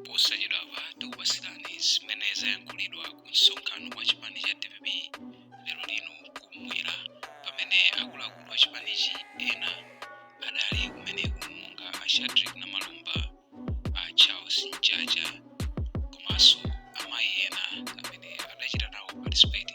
posachedwapa tikupatsirani zimene zayankhulidwa ku msonkhano wa chipani cha dpp lero lino kumwera pamene akuluakulu a chipanichi ena adali kumeneko monga a shadric namalomba a charles mchacha komanso amayi ena amene adachita nawo participate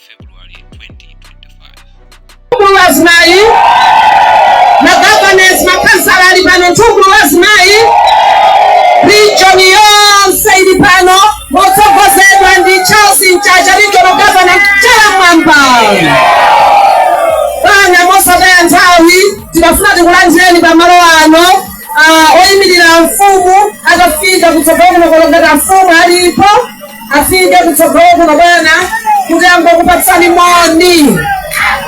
February 2025. Mkulu wa azimayi, magavanesi, makhansala ali pano, mkulu wa azimayi, region yonse ili pano motsogozedwa ndi Charles Mchacha, regional governor chala mmwamba. Bwana mosataya nthawi, tikafuna tikulandireni pa malo ano ah, oyimirira mfumu atafika kutsogolo kuno olo ngati amfumu alipo afike kutsogolo kuno bwana kuti angokupatsani moni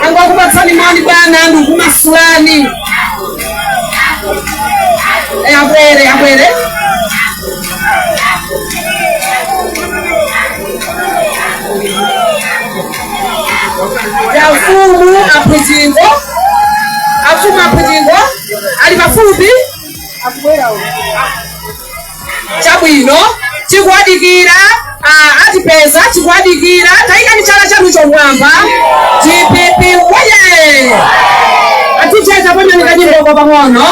angokupatsani moni bwana ndikumasulani Eh, abwere abwere ya mfumu aphwizingo amfumu aphwizingo ali pafupi chabwino tikuwadikira ah, atipeza tikuwadikira tayikani chala chanucho mmwamba dpp woye aticheza pamene kanyimboka pang'ono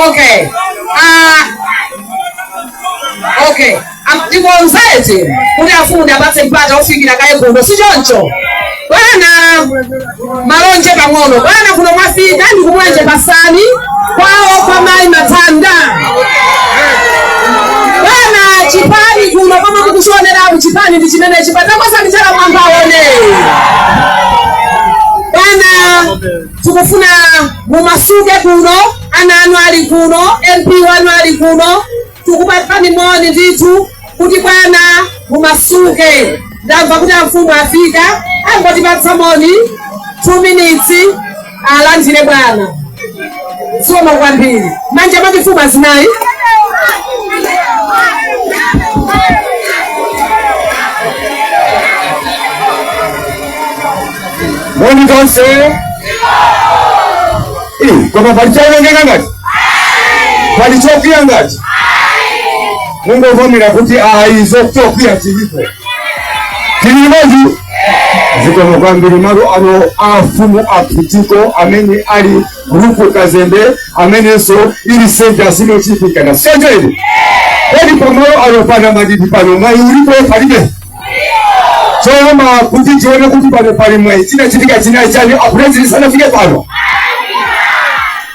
Okay. Ah. Okay. Am- Ndikonzete kuti afunde apatse mpata ofikira kaye kuno si choncho. Bwana. malonje pang'ono bwana kuno mwafika ndi ku mulanje pasani kwawo kwa mayi mathanda bwana chipani kuno koma mukuchioneraku chipani ndi chimenechi bwana takwezani chala mmwamba aone bwana tikufuna mumasuke kuno ana anu ali kuno mp wanu ali kuno tikupatsani moni ndithu kuti bwana mumasuke ndamva kuti amfumu afika angotipatsa moni 2 minutes alandire bwana zikomo kwambiri manja mati mfumu azimayi moni tonse Eh, koma pali chaonongeka ngati pali chokwiya ngati mungovomera kuti ayi zokwiya zilipo tili limodzi zikomo kwambiri malo ano afumu aphitiko amene ali gulupu kazembe amenenso ili senta sinochipikana senteni kodi pamalo ano pana madidi pano mwayi ulipo palibe choyamba kuti tione kuti pano pali mwayi chinachitika china chani apulezidenti sanafike pano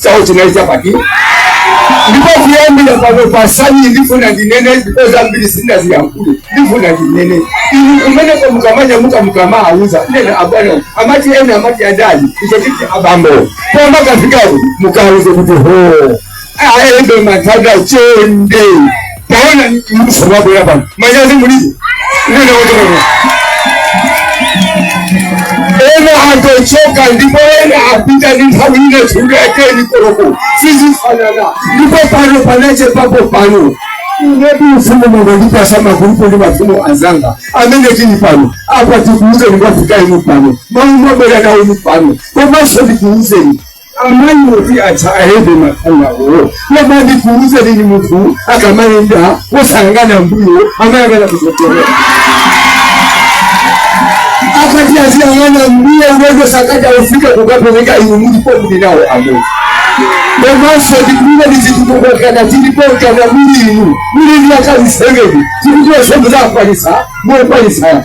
chawo chinali chapati ndipo kuyambira pano pasani ndifuna ndinene ndipo zambiri sindinaziyankhule ndifuna ndinene inu kumeneko mukamanya muka mukamawauza ena abwana amati ena amati adadi icho chiti abambo koma mukafikako mukawauze kuti ho ayende matanda chonde taona mbusa wako hapa manyazi mulibe ndio ndio ndio ena atochoka ndipo ena apita ni nthawi ine tuleke ni koloko sisi fanana ndipo pano panache papo pano Nde mu ufumu mwanga ndipatsa magulupu ndi mafumu azanga amene tili pano apa tikuuzeni kwafika inu pano mau mwabwera nawo inu pano komanso ndikuuzeni amayi oti atsa ayende mafungawo koma ndikuuzeni munthu akamayenda wosayang'ana mbuyo amayang'ana kutsogolo akati aziyang'ana mbuyo ulendo sakatha kufika kukapeleka inu mulipo muli nawo amodzi komanso ndikulibe ndi zitukuko nkana tilipo nkana muli inu muli ndi akazi seveni tikuti onse muzakwanisa mokwanisa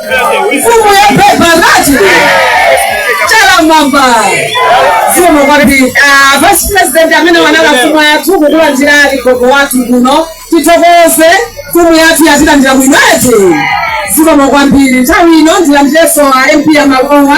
mfumu ya mphepo anati chalamwamba zikomo kwambiri Ah, vice president amenewo anali a mfumu yathu kukulandirani gogo wathu kuno tithokoze mfumu yathu yatilandira bwino zikomo kwambiri nthawi ino ndilandirenso a mp ya malowa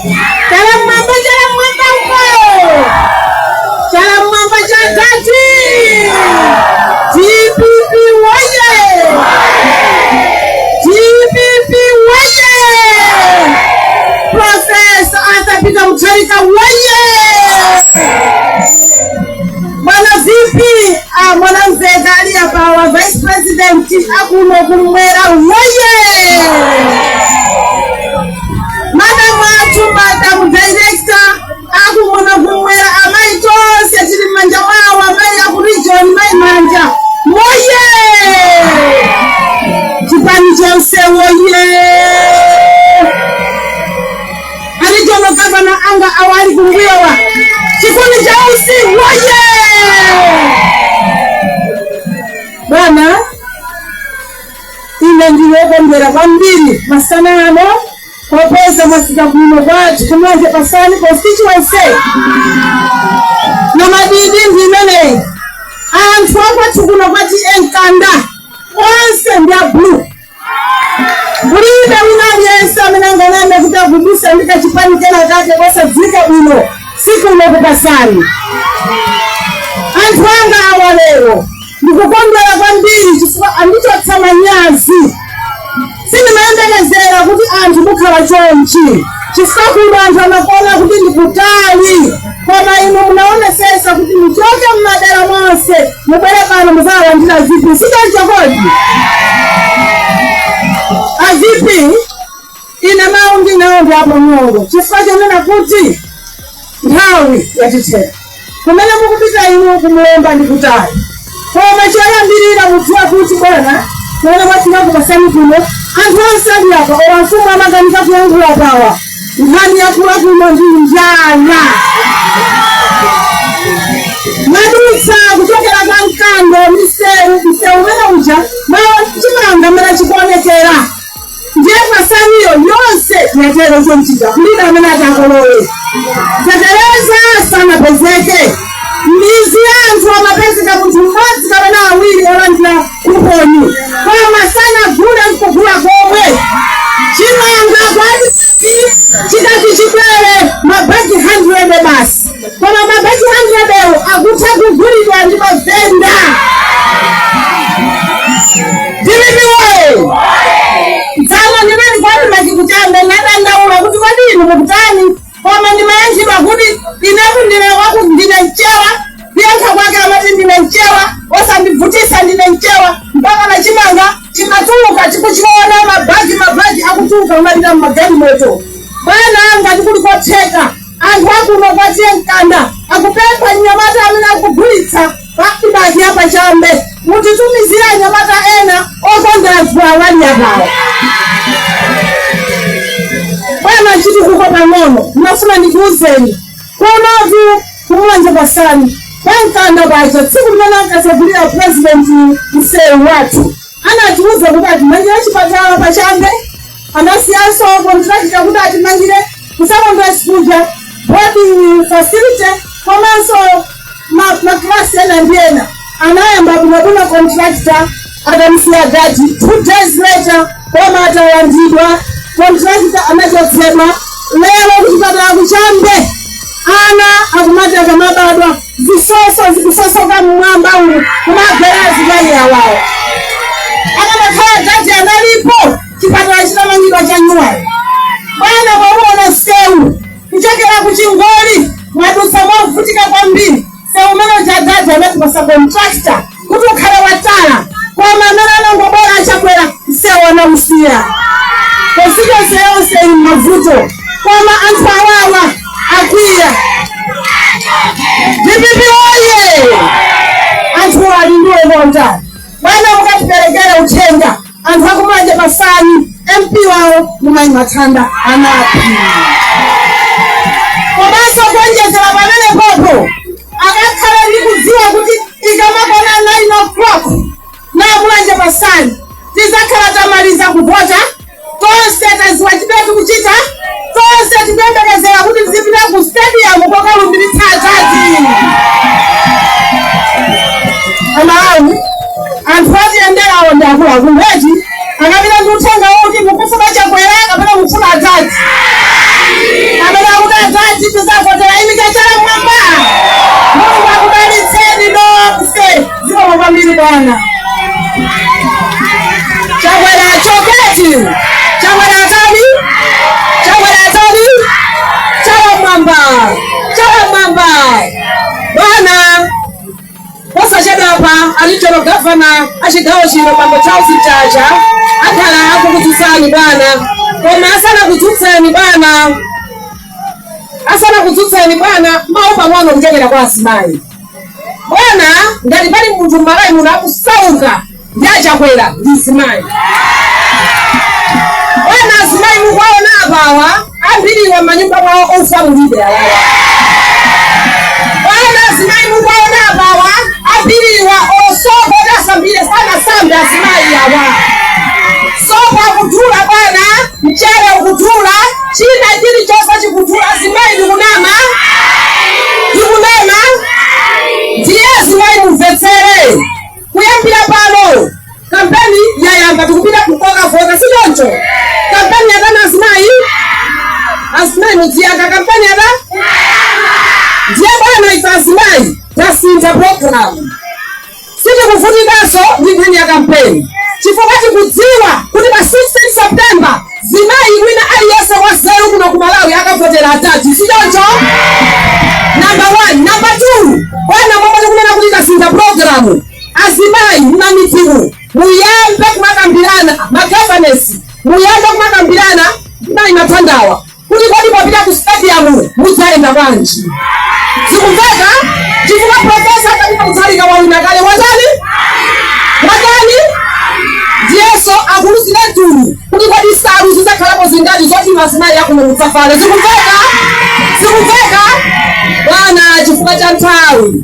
Chala mwamba, chala mwamba uko. Chala mwamba cha dadi. DPP woye. DPP woye. Profesa Arthur Peter Mutharika woye. Bwana VP, ah, Mwanamvekha ali apawa vice president akuno kumwera woye. Madam athu madam director akuno kumwera amayi tonse tili m'manja mwawo amayi aku region mayi manja woye chipani chonse woye a regional governor anga awali kumbuyowa chigulu chonse woye bwana Ine ndili wokondwera kwambiri masana ano popeza mwafika kuno kwathu ku Mulanje Pasani constituency. Nambadi ndi imeneyi. Anthu akwathu kuno kwa T/A Nkanda onse ndi a blue. Kulibe wina aliyense amene anganene kuti agubuza ndi kachipani kena kake kosadziwika bwino si kuno ku Pasani. Anthu anga awa lero Ndikukondwera kwambiri chifukwa andichotsa manyazi. Sindimayembekezera kuti anthu mukhala chonchi chifukwa kuno anthu amakuona kuti ndi kutali, koma inu munaonesesa kuti muchoke m'madera monse mubwere pano muzawalandire a VP. Sichoncho kodi? A VP Ine mawu ndili nawo ndi apang'ono chifukwa chonena kuti nthawi yatithera. Kumene mukupita inu ku Mlomba ndi kutali. Koma choyambirira mudziwe kuti bwana kumene mwafika ku Pasani kuno anthu onse ali apa awa mafumu amakanika kuyankhula pawa. Nkhani yakula kuno ndi njala. Mwadutsa kuchokera kwa Mkando msewu msewu umene uja mwaona chimanga mmene chikuonekera. Ndiye Pasani yo yonse yatero chonchija kulibe amene atakolole fetereza sanapezeke midzi ya anthu amapezeka munthu mmodzi kapena awiri olandira kuponi koma sanagule nkugula komwe chimanga kwathu chikati chibwere mabagi 100 basi koma mabagi handiredewo akutha kugulidwa ndi mavenda ndili moyo dzana ndinali kwathu machikuchanga nadandaula kuti kodi inu mukutani koma ndimayankhidwa kuti inetu ndine waku ndine mchewa kuyankha kwake amati ndine mchewa osandibvutisa ndine mchewa mpaka na chimanga chimatuluka tikuchiona mabagi mabagi akutuluka kumapita mmagalimoto bwana ngati kuli kotheka Anthu a kuno kwa T/A Nkanda akupempha mnyamata amene akugulitsa pa ADMARC ya pa Chambe mutitumizire anyamata ena okonda anthu awa ali apawa. Bwana chitukuko pang'ono, ndinafuna ndikuwuzeni kunotu ku Mulanje Pasani kwa Nkanda kwacha tsiku limene ankasegulira president msewu wathu anatiwuza kuti atimangira chipatala pa Chambe Anasiyanso kontilakita kuti atimangire ku sekondale kuja, boarding facility komanso makilasi ena ndi ena. Anayamba bwinobwino kontilakita atamusiya adadi. Two days later boma atalandidwa, kontilakita anachotsedwa. Lero kuchipatala ku Chambe ana akumati akamabadwa zisoso zikusosoka mmwamba umu kumagwera azibale awawo. Akanakhala adadi analipo chipatala chitamangidwa chanyuwani bwana mwauona sewu kuchokera ku chingoli mwadutsa mwavutika kwambiri sewu umene adadi anatipasa kontrakta kuti ukhale watala koma amene anangobwera achakwera sewu anausiya constituency yonse ili mmavuto koma anthu awawa akwiya DPP oye anthu ali ndi ukonda bwana mukatiperekera uthenga anthu aku Mulanje Pasani mp wawo ndi mayi Mathanda Anaphiri komanso kuonjezera pamenepopo akakhale ndi kudziwa kuti ikamakwana 9 o'clock ku Mulanje Pasani tizakhala tamaliza kuvota tonse taziwa chimene tikuchita Tonse tikuyembekezera kuti tizipita ku stadium kokalumbiritsa adadi. Amalawi, anthu atiyenderawo ndi akuluakulu eti akapita ndi uthenga woti mukufuna chakwera kapena mukufuna adadi. Amene akuti adadi tizavotera imika chala mwamba. Mulungu akudalitseni nonse. Zikomo kwambiri bwana. Chakwera achoke eti. Chakwera atani? Chakwera atani? Chala mwamba. Chala mwamba. Bwana posachedwa apa a regional governor achigawo chino bambo Charles Mchacha akhala akukudzutsani bwana koma asanakudzutseni bwana asanakudzutseni bwana mawu pang'ono kuchokera kwa azimayi Bwana ngati pali munthu mmalawi muno akusauka ndi achakwera ndi mzimayi bwana azimayi mukuwaona apawa ambiriwa mmanyumba mwawo ufa mulibe awawa bwana azimayi mukuwaona apawa ambiriwa sopo oti asambire sanasambe azimayi awa sopo akudula bwana Mchere ukudula, china chilichonse chikudula. Azimayi ndikunama? Ndikunama? Ndiye azimayi mumvetsere, kuyambira pano kampeni yayamba, tikupita kokavota, si choncho? Kampeni yatani azimayi, azimayi mudziyankha kampeni yatani ndiye bwana, ife azimayi tasintha programu Sitikuvutikanso ndi nkhani ya kampeni chifukwa tikudziwa kuti pa 16 September mzimayi wina aliyense wanzeru kuno ku Malawi akavotera Adadi, si choncho? Number one. Number two, bwana momwe tikunena kuti tasintha pulogalamu, azimayi m'mamidzimu muyambe kumakambirana ma governess, muyambe kumakambirana mayi mathandawa kuti kodi popita ku stadium mudzayenda bwanji zikumveka chifukwa profesa Arthur Peter Mutharika wawina kale watani watani iyenso akuluzira tulo kuti kodi nsalu zidzakhalapo zingati zoti azimayi akuno ku South avale zikumveka zikumveka bwana chifukwa cha nthawi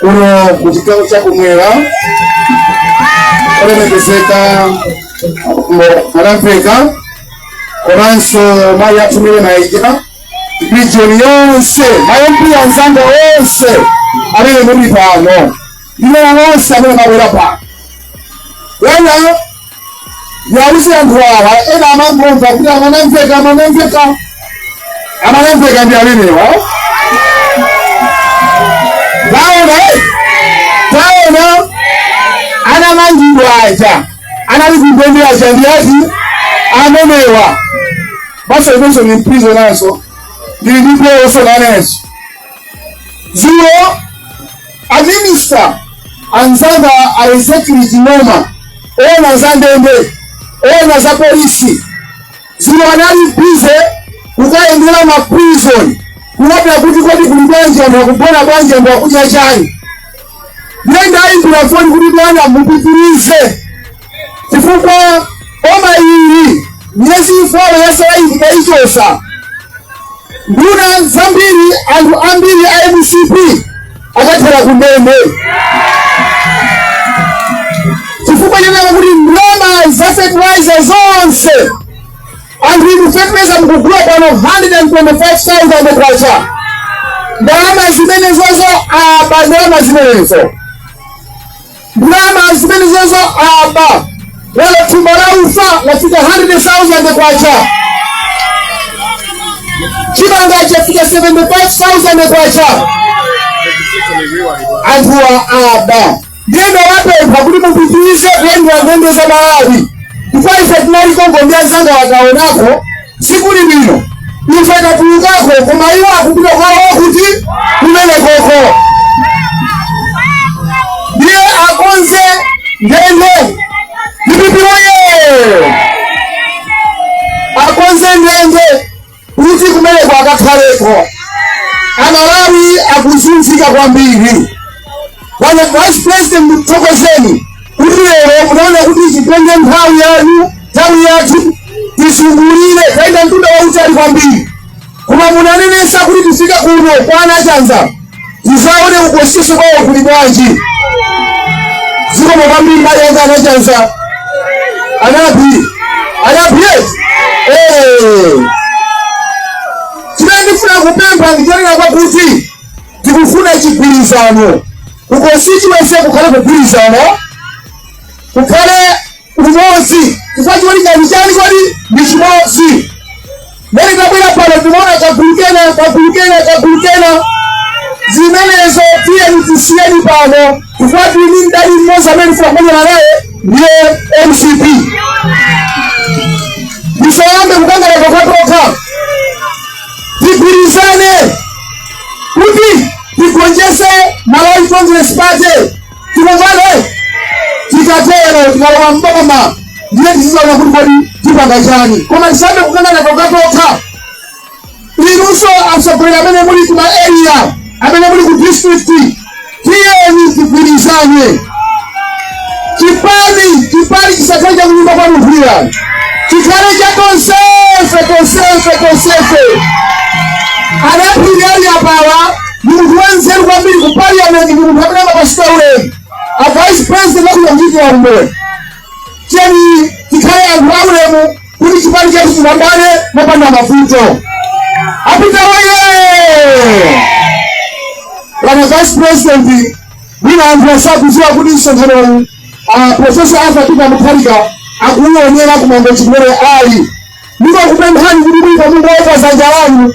kuno ku chigawo cha kumwera olemekezeka a Mwanamvekha komanso mayi athu Maria Mainja region yonse ma MP anzanga onse amene muli pano ndi ena onse amene mwabwera pano wena Ndiwauze anthu awa ena amangomva kuti a Mwanamvekha a Mwanamvekha a Mwanamvekha ndi amenewa taona eh? taona anamangidwa aja anali kundende aja ndi ati amenewa maso inenso ndi m'prisoner-nso ndili ndi peoso nanenso dzulo A minister anzanga a Ezekiel Ching'oma owona za ndende owona za polisi dzulo anali bize kukayendera ma prison kuwona kuti kodi kuli bwanji anthu akugona bwanji anthu akudya chani ndiye ndayimbira foni kuti bwana mupitirize chifukwa boma ili miyezi ifolo yatsalayi tikaichotsa nduna zambiri anthu ambiri a MCP akathera kundende chifukwa chonena kuti ndalama za fertilizer zonse anthu inu fertilizer mukugula pano 125,000 kwacha ndalama zimenezozo aba ndalama zimenezo ndalama zimenezozo aba pano thumba la ufa lafika 100,000 kwacha chimanga chafika 75,000 kwacha anthuwa aba ndiye ndawapempha kuti mupitirize kuyendera ndende za malawi ndipo ife tinali konko ndi anzanga takaonako Sikuli bwino ife tatulukako koma iwo akupita kwawo kuti kumenekoko ndiye akonze ndende ndipipiroye akonze ndende kuti kumeneko akakhaleko amalawi akuzunzika kwambiri Bwana Vice President, ndikuthokozeni kuti lero munaona kuti titenge nthawi yanu nthawi yathu tizungulire tayenda mtunda wautali kwambiri, koma munanenesa kuti tifike kuno kwa anachanza tizaone ku constituency kwawo kuli bwanji. Zikomo kwambiri mbali yanga anachanza anapi anapi yes eh, chimene ndifuna kupempha ndichonena kwakuti Tikufuna chigwirizano. Ku constituency kukhale kugwirizana, kukhale umodzi. Chifukwa cholinga ndi chani kodi? Ndi chimodzi. Mmene tabwera pano timaona kagulu kena, kagulu kena, kagulu kena. Zimenezo tiyeni tisiyeni pano. Chifukwa tili ndi mdani mmodzi amene tikufuna kumenyana naye ndiye mcp. Tisayambe kukangana tokhatokha. Tigwirizane. kuti tigonjese Malawi Congress Party tikuvale tikatero tikalowa mboma ndiye tizizaona kuti kodi tipanga chani koma tisayambe kukangana tokatokha inuso atsogoleri amene muli kuma area amene muli ku district tiyeni tigwirizane chipani chipani chisakhale chakunyumba kwa munthu wina chikhale cha tonsefe tonsefe tonsefe anaphiri ali apawa ni munthu wanzeru kwambiri ku parliament ni munthu amene amapatsidwa ulemu a vice president akuchita ntchito ya umboni tiyeni tikhale anthu aulemu kuti chipani chathu chipambane mopanda mavuto. A Peter oye! Bwana Vice President, mwina anthu asakudziwa kuti msonkhanowu ah, Profesa Arthur Peter Mutharika akuuonera ku Mangochi kumene ali. Ndikukupemphani kuti mwina mungoyika dzanja lanu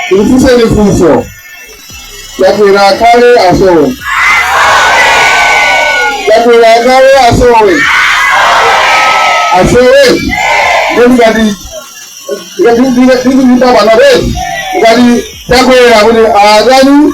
Ndikufunseni funso. Chakwera akhale asowe. Chakwera akhale asowe. Asowe. Ndipo ngati ngati ndine ndine ndipapa na besi ngati Chakwera kuti akani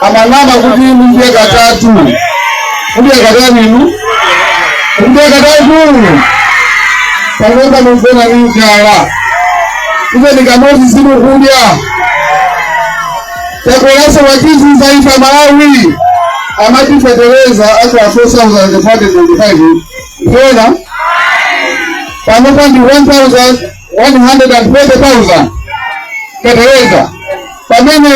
amanama kuti inu mudye katatu mudye katatu inu mudye katatu panopa mumvena ni njala ife ndikamozi simukudya Chakwera watizunza ife Amalawi amati fetereza akhala 4525 ndiona panopa ndi 130,000 fetereza pamene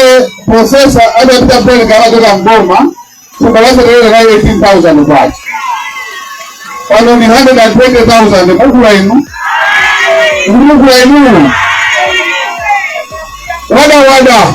profesa Arthur Peter Mutharika amachoka mboma thumba la fetereza la 18,000 kwacha pano ni 120,000 mugula inu mugula inu wada wada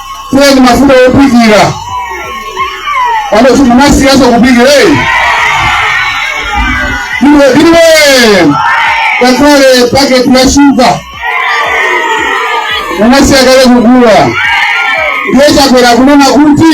kuwa ndi mafuta ophikira pano simunasiyaso kuphikira eyi iwe iwe ngakhale paketi ya shuga munasiya kale kugula ndiye Chakwera kunena kuti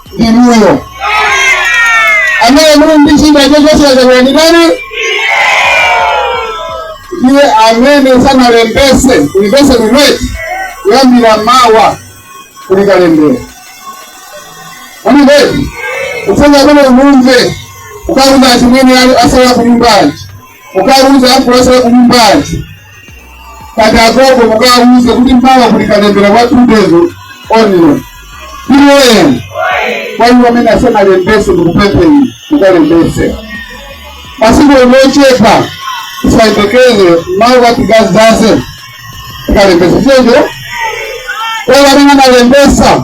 inuyo amene muli ndi chida chochosera Chakwera ndi ndani ndiye amene sanalembese kulipese kumweti kuyambira mawa kuli kalembera wa mavoti kufunga kuno kumve ukawauza achimwene asala kunyumbaji ukawauza afu asala kunyumbaji kati agogo mukawuze kuti mpawa kuli kalembera wa two days only pm kwani wamene asema lembese ndikupempheni mukalembese masiku ochepa tisayembekeze mawu kati gazaze tikalembese checho kwa wamene analembesa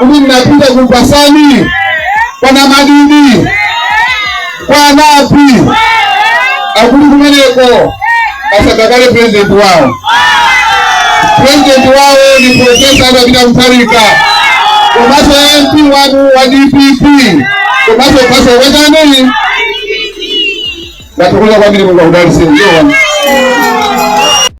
Umi mnapita kumpasani kwa Namadidi kwa Anapi akuli kumeneko asankha kale president wao. President wao ni Profesa Arthur Peter Mutharika komanso MP wanu wa DPP komanso khansala wetani ndathokoza kwambiri Mulungu akudaliseni.